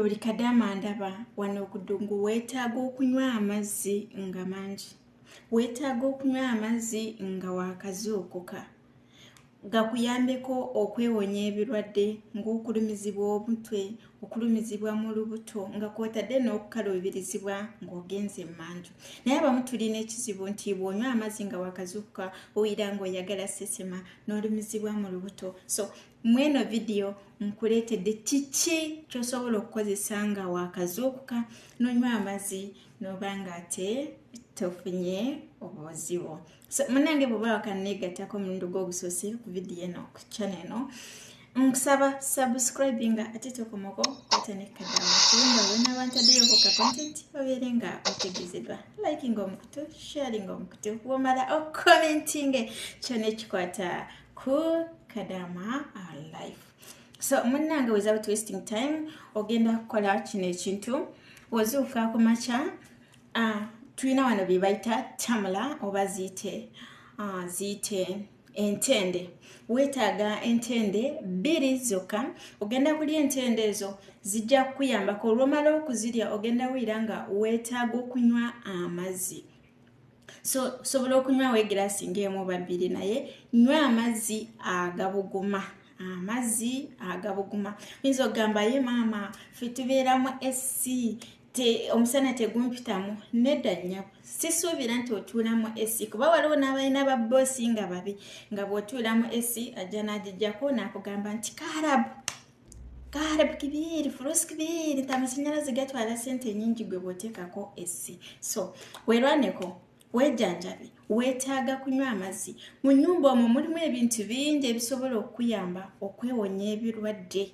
buli kadaama ndaba wano okudungu weetaaga okunywa amazzi nga mangi weetaaga okunywa amazzi nga wakazuukuka gakuyambeko okwewonya ebirwadde ng'okulumizibwa omutwe okulumizibwa mu lubuto nga kwotadde n'okukaluubirizibwa ng'ogenze emanju naye abamu tulina ekizibu nti bw'onywa amazzi nga wakazuukuka owulira ng'oyagala sesema n'olumizibwa mu lubuto so mweno vidiyo nkuleetedde kiki kyosobola okukozesa nga wakazuukuka nonywa amazzi noba nga ate tofunye obuzibu so munange bwoba wakaneegattako omulundi gwogusoose ku vidiyo eno ku chana eno nkusaba subscribe nga ate tokomoko kwatanekadaakulinda wena abantadeyoko ka content obeere nga otegezedwa likinga omukutu sharinga omukutu womala okomentinge kyona ekikwata cool kadama our life so munnange without wasting time ogenda kukola kino ekintu wozuuka ku makya uh, tulina wano bye bayita tamula oba ziyite uh, ziyite entende weetaaga entende bbiri zokka ogenda kulya entende ezo zijja kukuyambako olwomala okuzirya ogenda wulira nga weetaaga okunywa amazzi so sobola okunywawo egiraasi ngaemu oba bbiri naye nywa amazzi agabuguma amazzi agabuguma oyinza okugamba ye maama fe tubeeramu esi te omusana tegumpitamu nedda nyabo sisuubira nti otuulamu esi kuba waliwo n'abalina babboosi nga babi nga bw'otuulamu esi ajja n'agijjako n'akugamba nti kaarabu kaharab kibiri furusi kibiri nti amasanyalaze gatwala sente nyingi gwe bwoteekako essi so werwaneko wejanjabe wetaaga kunywa amazzi mu nyumba omwo mulimu ebintu bingi ebisobola okukuyamba okwewonya ebirwadde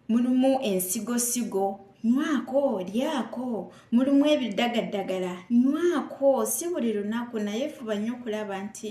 mulimu ensigosigo nywako lyako mulimu ebiddagaddagala nywako si buli lunaku naye fuba nnyo okulaba nti